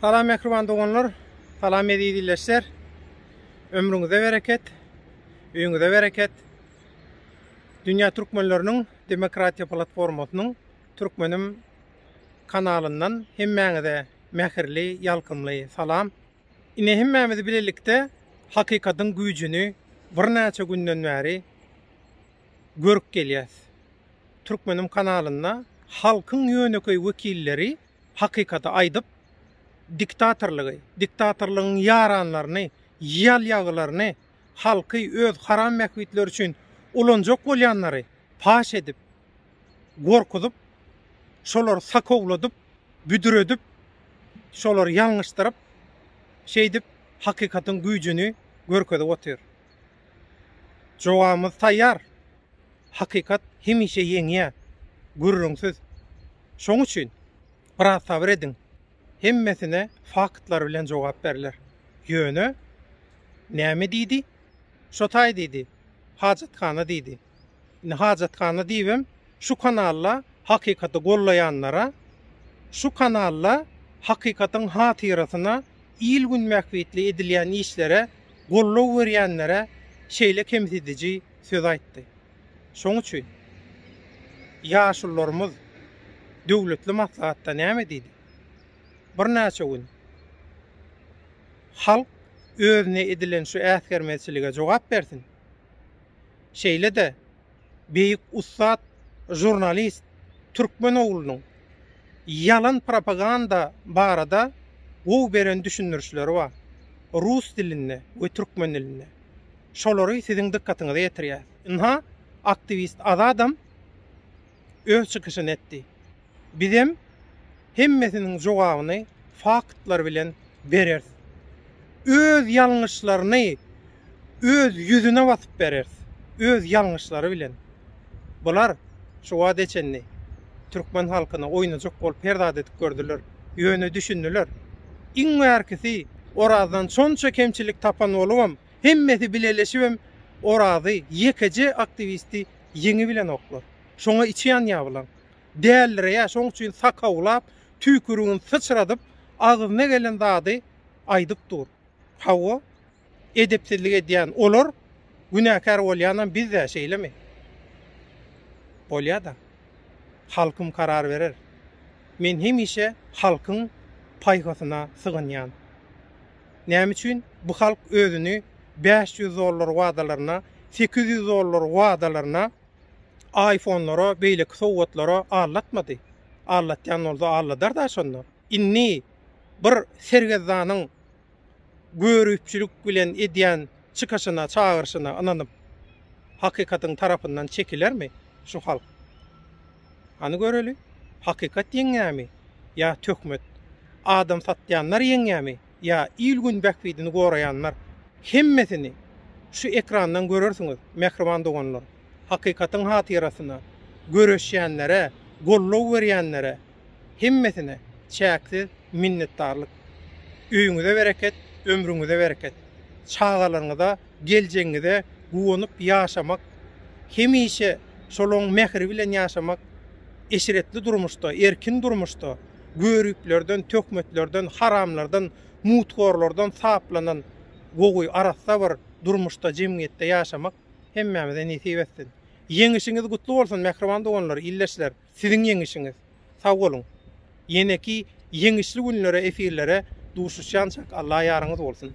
Salam mähriban doganlar, salam eziz illeşler. Ömrüňize bereket, öýüňize bereket. Dünýä türkmenleriniň demokratiýa platformasynyň Türkmenim kanalyndan hemmäňize mähirli, ýalkymly salam. Ine hemmämiz bilelikde hakykatyň güýjüni birnäçe günden bäri görüp gelýäs. Türkmenim kanalynda halkyň ýönekeý wekilleri hakykaty aýdyp, diktatorlygy, diktatorlygyň ýaranlaryny, ýalýagylaryny, halky öz haram bähbitleri üçin ulanjak bolýanlary paş edip, gorkuzyp, şolary sakowladyp, büdredip, şolary ýalňyşdyryp, şeýdip hakykatyň güýjüni görkezip otyr. Jogabymyz taýýar. Hakykat hemişe ýeňýär. Gürrüňsiz. Şoň üçin, biraz sabyr ediň. Hemmesine faktlar bilen jogap berler. Ýöne, näme diýdi? Şo taý diýdi, hajathana diýdi. Indi hajathana diýibem şu kanalda hakykaty gollaýanlara şu kanalda hakykatyň hatyrasyna il gün bähbitli edilýän işlere gollow berýänlere şeýle kemsidiji söz aýtdy. Şoň üçin ýaşullarymyz döwletli maslahatda näme diýdi? Birnäçe gün halk özüne edilen şu äsgermezçilige jogap bersin. şeýle-de beýik ussat žurnalist türkmen oglunyň ýalan propaganda barada gowy beren düşündirişleri bar, rus dilinde we türkmen dilinde. Şolary siziň dykgatyňyza ýetirýäs. Ynha, aktiwist Azadam öz çykyşyny etdi. Bizem hemmesiniň jogabyny faktlar bilen bereris. Öz ýalňyşlaryny öz ýüzüne basyp bereris. Öz ýalňyşlary bilen. Bular şu wagta çenli türkmen halkyny oýnajak bolup her zat edip gördüler. Ýöne düşündiler. Iň bärkisi Orazdan şonça kemçilik tapan bolubam, hemmesi bileleşibem Orazy, ýekeje aktiwisti ýeňibilenoklar. Şoňa içi ýanýar bulaň. Däldireýär, şoň üçin sakawlap, tüýkürigini syçradyp, agzyna gelen zady aýdyp dur. Hawa, edepsizlik edýän olar, günäkär bolýanam biz-dä, şeýlemi? Bolýa-da. Halkym karar berer. Men hemişe halkyň paýhasyna sygynýan. Näme üçin bu halk özüni bäş ýüz dollar wadalaryna, sekiz ýüz dollar wadalaryna, Aýfonlara, beýleki sowgatlara aldatmady. Aldatýan bolsa alladar-da şonda. Indi bir sergezdanyň görüpçilik bilen edýän çykyşyna, çagyryşyna ynanyp, hakykatyň tarapyndan çekilermi şu halk? Hany göreli, hakykat ýeňýärmi ýa töhmet? Adam satýanlar ýeňýärmi? ýa il-gün bähbidini goraýanlar, hemmesini şu ekrandan görersiňiz, mähriban doganlar! Hakykatyň hatyrasyna göreşýänlere, goldaw berýänlere hemmesine çäksiz minnetdarlyk! Öýüňize bereket, ömrüňize bereket! Çagalaryňyza Geljegiňize guwanyp ýaşamak, hemişe şolaň mähri bilen ýaşamak, eşretli durmuşda, erkin durmuşda, göriplerden, töhmetlerden, haramlardan, muthorlardan saplanan gowy, arassa bir durmuşda, jemgyýetde ýaşamak hemmämize nesip etsin. Ýeňişiňiz gutly bolsun, mähriban doganlar, ildeşler! Siziň ýeňişiňiz. Sag boluň. Ýeneki ýeňişli günlere efirlere duşuşýançak Alla ýaryňyz bolsun.